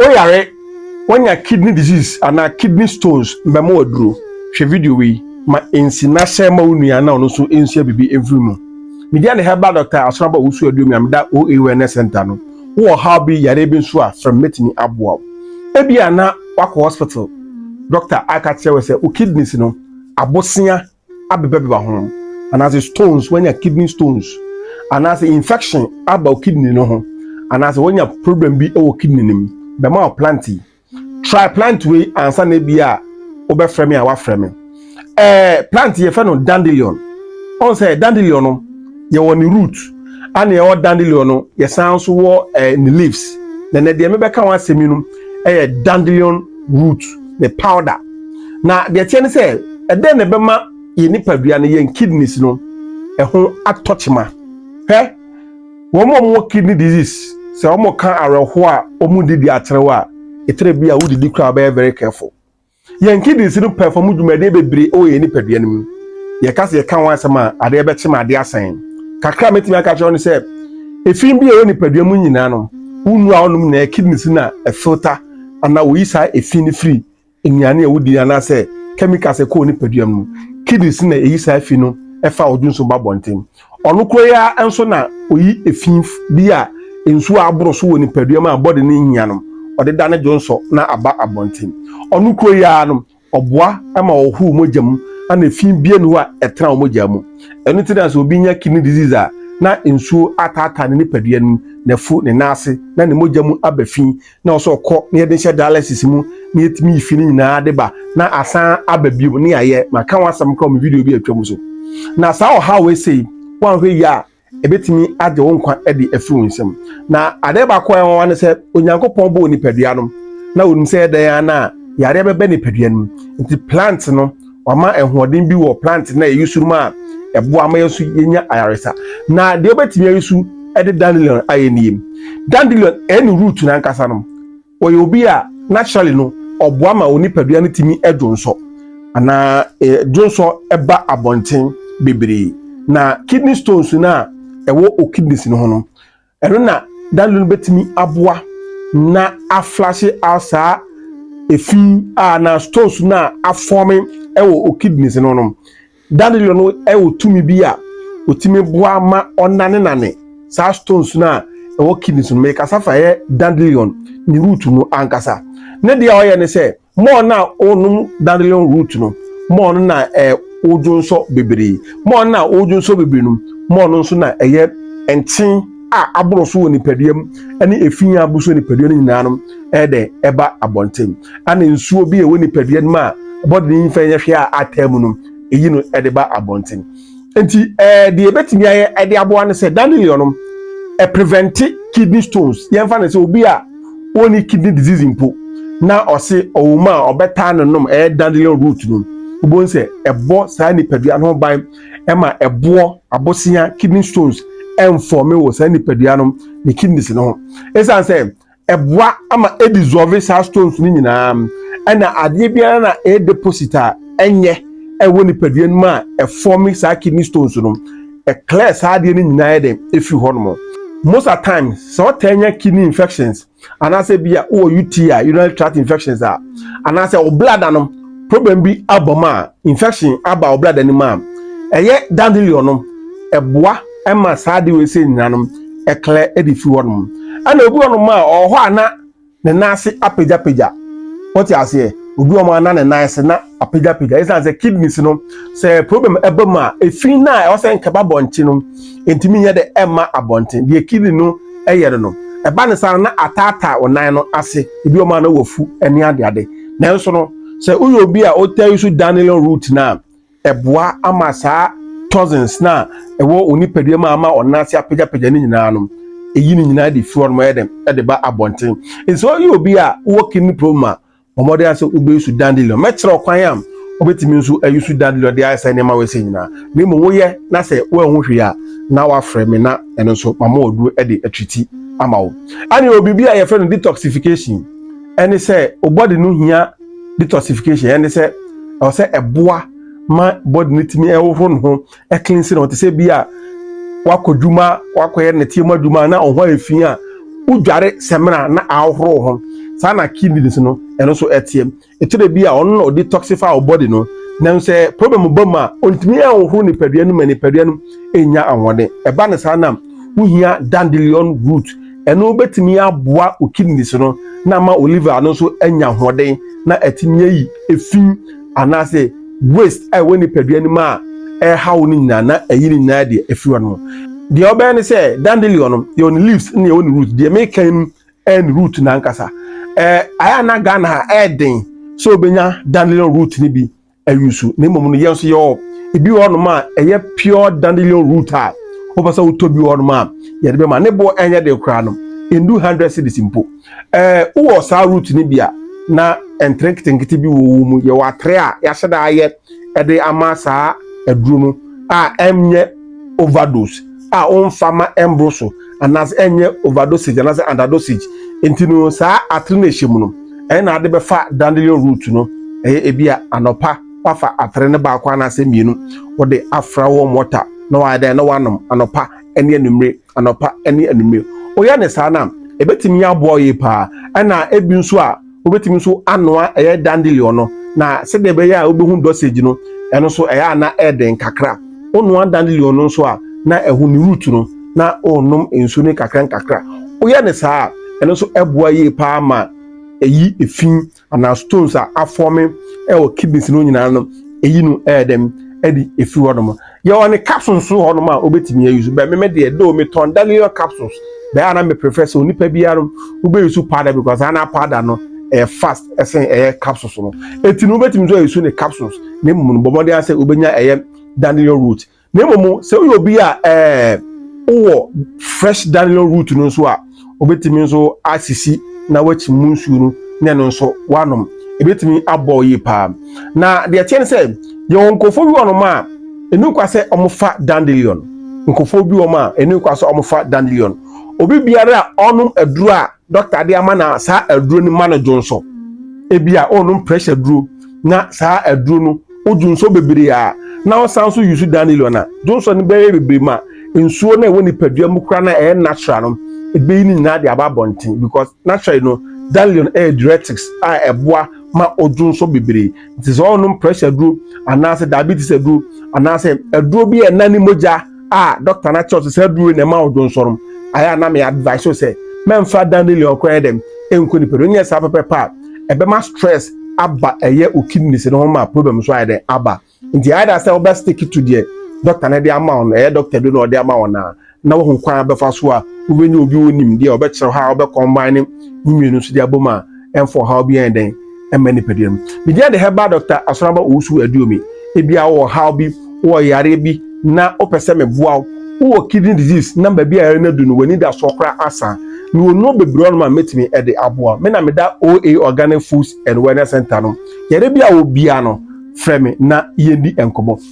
Woyare, woanya kidney disease anaa kidney stones mmɛma wo aduro. Hwɛ video wei ma ɛnsi na share ma wo nua na ɔno nso nsua biribi mfiri mu. Media ne herbal doctor Asonabo Owusu-Aduomi a meda OA Wellness Centre no. Wowɔ ɔhaw bi, yareɛ bi nso a, frɛ me mɛtumi aboa wo. Ebia na woakɔ hospital, doctor aka akyerɛ wo sɛ wo kidneys no, abosea abebabeba ho anaasɛ stones wanya kidney stones anaasɛ infection aba wo kidney no ho anaasɛ wanya problem bi wɔ kidney no mu bɛma wo plant yi try plant wei ansa na ebi a wobɛfrɛ me a wafrɛ me ɛɛ eh, plant yɛfrɛ no dandelion ɔn sɛ dandelion no yɛwɔ ne root ana yɛwɔ dandelion no yɛsan nso wɔ ɛɛ eh, ne leaves na na deɛ mebɛka ho asɛm yi no ɛyɛ dandelion root ne powder na deɛ ɛteɛ ne sɛ ɛdɛn na ɛbɛma yɛn nipadua no yɛn kidneys no ɛho atɔ kyema hwɛ wɔn a wɔwɔ kidney disease sɛ wɔn ka awerɛhoɔ a wɔn di di akyerɛw a ɛtɛrɛ bi a wodidi koraa bɛyɛ very careful. Yɛn kidneys no pɛfɔm dwumadie bebree wɔ yɛn nipadua no mu. Yɛka sɛ yɛka ho asɛm a, adeɛ bɛkye ma adeɛ asa yɛn. Kakra a mɛtumi aka kyerɛ wo ne sɛ, efi bi a ɛwɔ nipadua mu nyinaa no, wonu a wonom nyinaa kidneys na ɛfilta anaa woyi saa efi no firi nnuane a wodi anaasɛ chemicals a ɛkɔ wo nipadua mu. Kidneys na ɛyi saa efi no ɛfa wo dwonso ba bɔnten. Ɔno koro yi ara nso na oyi efi bi a nsu a aboro so wɔ nipadua mu a bɔde no nhia no, ɔde da ne dwonsɔ na aba abɔnten. Ɔno koro yi ara no, ɔboa ma wɔhoro mogya mu na efi biara nni hɔ a ɛtena wo mogya mu. Ɛno nti na sɛ obi nya kidney disease a, na nsuo ataataa ne nipadua no mu, n'afu, ne nan ase, na ne mogya mu aba fi na ɔsɛ ɔkɔ na yɛde nhyɛ dialysis mu na yɛtumi fi no nyinaa de ba na asan aba bio ne yɛayɛ maka ho asɛm kora me video bi atwam so na saa ɔhaw ɛsei woanhwɛ yie a ɛbɛtumi agye wo nkwa de afiri wo nsam na adeɛ baako a ɛwawa ne sɛ onyankopɔn bɔɔ nipadua no na onim sɛ ɛdɛn a na yareɛ bɛbɛ nipadua no mu nti plant no Wama ahoɔden bi wɔ plant na ɛyi so mu a ɛboa ma yɛn nso yɛnya ayaresa. Na deɛ wobɛtumi ayi so de dandelion ayɛ nie. Dandelion ɛne root no ankasa no, ɔyɛ obi a naturally no ɔboa ma wo nipadua no tumi dwonsɔ anaa dwonsɔ ɛba abɔnten bebree. Na kidney stones no a ɛwɔ o kidneys no ho no, Ɛno na Daniel no bɛtumi aboa na aflashe out saa efi a na stones no a afɔme wɔ o kidneys no no. Daniel no wɔ tumi bi a ɔtumi boa ma ɔnanenane saa stones no a ɛwɔ kidneys no. Mekasa fa yɛ dandelion ne root no ankasa. Ne deɛ ɔyɛ ne sɛ Mɔɔ no a ɔnom dandelion root no, mɔɔ no na ɔdwonsɔ bebree. Mɔɔ no a ɔdwonsɔ bebree no, mɔɔ no nso na ɛyɛ nkyen a aboro so wɔ nipadua mu ne efi a abu so wɔ nipadua no nyinaa no ɛyɛ dɛ ɛba abɔnten. Ɛna nsuo bi a ɛwɔ nipadua no mu a ɛbɔ dene nyimfa nyɛ hwee a ataa mu no, eyi no ɛde ba abɔnten. nti ɛɛ deɛ ebetumi ayɛ ɛde aboa no sɛ dandelion nom ɛprevente kidney stones yɛn fa no sɛ obi a wɔnni kidney disease mpo na ɔse ɔwɔ mu a ɔbɛtaa no nom ɛyɛ dandelion root nom wobɛhu sɛ ɛbɔ saa nipadua no ho ban ɛma ɛboɔ abosea kidney stones ɛnfɔme wɔ saa nipadua no ne kidneys no ho ɛsiane sɛ ɛboa ama ɛdissolve saa stones no nyinaa ɛna adeɛ biara na ɛyɛ deposit a ɛnyɛ ɛwɔ nipadua no mu a ɛfɔme saa kidney stones no ɛclear saa adeɛ no nyinaa yɛ dɛn ɛfiri hɔ nom most at times sɛ ɔtaa nya kidney infections anaasɛ bi a wowɔ UTI a urinary tract infections a anaasɛ wo blada no problem bi abɔ mu a infection aba wo blada no mu a ɛyɛ dandelion no ɛboa ɛma saa ade wei sɛ nyina no ɛklɛ ɛde firi hɔ nom ɛna obi wɔnom a ɔwɔ hɔ a na ne nan ase apagyapagya wɔte aseɛ obi wɔn a na ne nan ase na apagyapagya ɛsan sɛ kidneys no sɛ problem ɛba mu a efi na ɛwɔ sɛ nkɛba abɔnten no ntumi nyɛ dɛ ɛma abɔnten deɛ kidney no ɛyɛ no no ɛba ne saa na ataataa wɔn nan no ase ebi wɔn a na wɔfu ɛne adeade nanso no sɛ woyɛ obi a ɔtaa yi so dandelion root na ɛboa ama saa toxins no a ɛwɔ wɔn nipadua mu a ama wɔn nan ase apagyapagya no nyinaa no eyi no nyinaa de fi hɔ nom ɛyɛ dɛm ɛde ba abɔnten nso ɔyɛ obi a wɔ kidney problem a wɔde asɛ wobɛyi su dandelion mɛkyerɛ ɔkwan a wobɛtumi nso ayi su dandelion de ayɛ sɛ nneɛma wɔsɛ nyinaa na mmom woyɛ na sɛ woanhu hwee a na wafrɛ me na ɛno nso mama ɔduro de atriti ama wo ɛne wɔ biribi a yɛfrɛ no detoxification ɛne sɛ wo body no hia detoxification ɛne sɛ ɛwɔ sɛ ɛboa ma body no tumi ɛhohoro ne ho ɛcleanse ne ho te sɛ bi a wakɔ dwuma wakɔyɛ ne tiɛma dwuma na ɔho ayɛ fi a wodware sɛmina na ahohoro ho saa na kidneys no ɛno nso ɛteɛ ɛkyerɛ bi a ɔno na ɔdetoxify wɔ body no na sɛ problem ba mu a ɔntumi ɛhohoro nipadua no ma nipadua no ɛnya ahoɔden ɛba ne saa na wohia dandelion root Ɛno bɛtumi aboa wo kidneys no na ama wo liver no nso anya ahoɔden na atumi ayi efi anaasɛ waste a ɛwɔ nipadua no mu a ɛreha wo no nyinaa na ayi ne nyinaa deɛ afiri hɔ no. Deɛ ɔbɛyɛ ne sɛ dandelion no yɛwɔ ne leaves na yɛwɔ ne root. Deɛ mekan no ɛyɛ ne root no ankasa. Ɛɛ ayɛ na Ghana ha ɛyɛ den sɛ obɛnya dandelion root no bi awisu na mmom no yɛn nso yɛwɔ ebi wɔ hɔnom a ɛyɛ pure dandelion root a wopɛ sɛ wotɔ bi wɔ hɔnom a yɛde bɛma ne boɔ ɛnyɛ de koraa no ndu hundred cities mpo ɛɛ wowɔ saa root no bi a na ntere nketenkete bi wɔ wo mu yɛwɔ atere a yɛahyɛ da ayɛ ɛde ama saa aduro no a ɛnyɛ overdose a wɔmfa ma ɛmboro so anaasɛ ɛnyɛ overdosage anaasɛ underdosage nti no saa atere na ɛhyɛ mu no ɛyɛ na ade bɛfa dandelion root no ɛyɛ ebi a anɔpa wafa atere no baako anaasɛ mmienu wɔde afra wɔn wɔta na wɔayɛ dɛn na wɔanom anɔpa ɛne anumere anɔpa ɛne anumere wɔyɛ ne saa na ebetumi aboa yie paa ɛna ebi nso a wobɛtumi nso anoa ɛyɛ dandelion no na sɛdeɛ ɛbɛyɛ a wobɛhu dosage no ɛno nso ɛyɛ a na ɛden kakra wonoa dandelion no nso a na ɛho ne root no na wonom nsuo no kakra nkakra woyɛ ne saa a ɛno nso ɛboa yie paa ma ɛyi efi anaa stones a afɔme ɛwɔ kidneys no nyinaa no ɛyi no ɛyɛ dɛm ɛde ɛfiri hɔ nom Yɛwɔ ne capsules so hɔnom a wobɛtumi ayi so. Bɛ me me deɛ, though metɔn Dalion capsules, bɛ a na me prefer sɛ onipa biara wobɛyi so powder because ana powder no ɛyɛ fast ɛsen ɛyɛ capsules no. Eti no wobɛtumi nso ayi so ne capsules na mmom no bɔ mmɔden ara sɛ wobɛnya ɛyɛ Dalion root. Na mmom sɛ woyɛ obi a ɛɛ wowɔ fresh Dalion root no nso a, Wobɛtumi nso asisi na wakyi mu nsuo no na ɛno nso wanom. Ɛbɛtumi abɔ yie paa. Na deɛ ɛteɛ no sɛ yɛwɔ nkurɔfoɔ bi wɔnom a ɛnu kwa sɛ wɔfa dandelion. Nkurɔfoɔ bi wɔn a ɛnu kwa sɛ wɔfa dandelion. Obi biara a ɔnom aduro a dɔkta de ama na saa aduro no ma no dwo nso. Ebi a ɔnom pressure duro. na saa aduro no wodu nsuo bebree a na wosan nso yusu danilo na johnson no bɛyɛ bebree ma nsuo na ɛwɔ nipadua mu kora na ɛyɛ natural no ebeyi ne nyinaa de aba abɔnten because naturally no danilo ɛyɛ diuretics a ɛboa ma odwo nso bebree nti sɛ ɔnom pressure aduro anaasɛ diabetes aduro anaasɛ aduro bi a ɛna ne mogya a doctor na kyerɛ sɛ saa duro na ɛma odwonsɔrɔm ayɛ a na me advice sɛ mɛmfa dandelion kora yɛ dɛm ɛnkɔ nipa no nyɛ saa pɛpɛpɛ a ɛbɛma stress aba ɛyɛ o kidneys no ho ma problem nso ayɛ dɛn aba nti ayɛ da sɛ wobɛ stick to deɛ doctor no de ama wo no ɛyɛ doctor bi na ɔde ama wo na na wohu kwan abɛfa so a wobɛnya obi onim deɛ ɔbɛkyerɛ hɔ a wobɛ combine ne mmienu nso de abom a ɛmfa ɔhaw biara yɛ dɛn ɛmma nipadua no me din de herbal doctor asoraba owusu aduomi ebi a wɔ ɔhaw bi wɔ yareɛ bi na wopɛ sɛ meboa wo wowɔ kidney disease na baabi a yɛre no adu no w'ani da soɔ koraa asa mewɔ nnuro bebree ɔnom a mɛtumi de aboa me na meda oa organic foods and wellness center no yɛre bi a wɔ biara no frɛ me na yɛndi nkɔmmɔ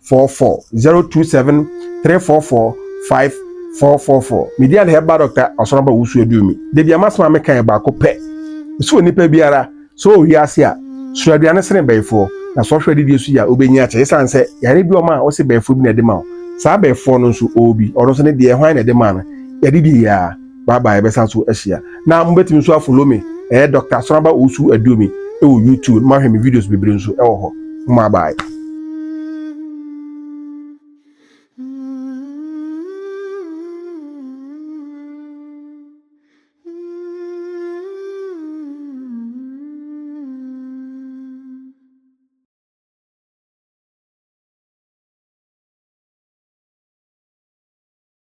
four four zero two seven three four four five four four four media na ɛba dɔkta ɔsoro aba wusu edu mi debi ama soma mi kan baako pɛ nso wɔ nipa biara so wɔ wiase a soro aduane sene bɛyifoɔ na sɔ hwɛ didi so yɛ a wobɛnyi akyɛ esan sɛ yare bi ɔma a ɔsi bɛyifoɔ bi na ɛde ma o saa bɛyifoɔ no nso ɔwɔ bi ɔno nso ne deɛ hwan na ɛde ma no yɛde die yɛ a. Bye bye yɛbɛsan so ahyia. Na mobɛtumi nso afolo me ɛyɛ Doctor Asoraba Owusu Aduomi ɛwɔ YouTube na moahwɛ me videos bebree nso ɛwɔ hɔ. Mma bye.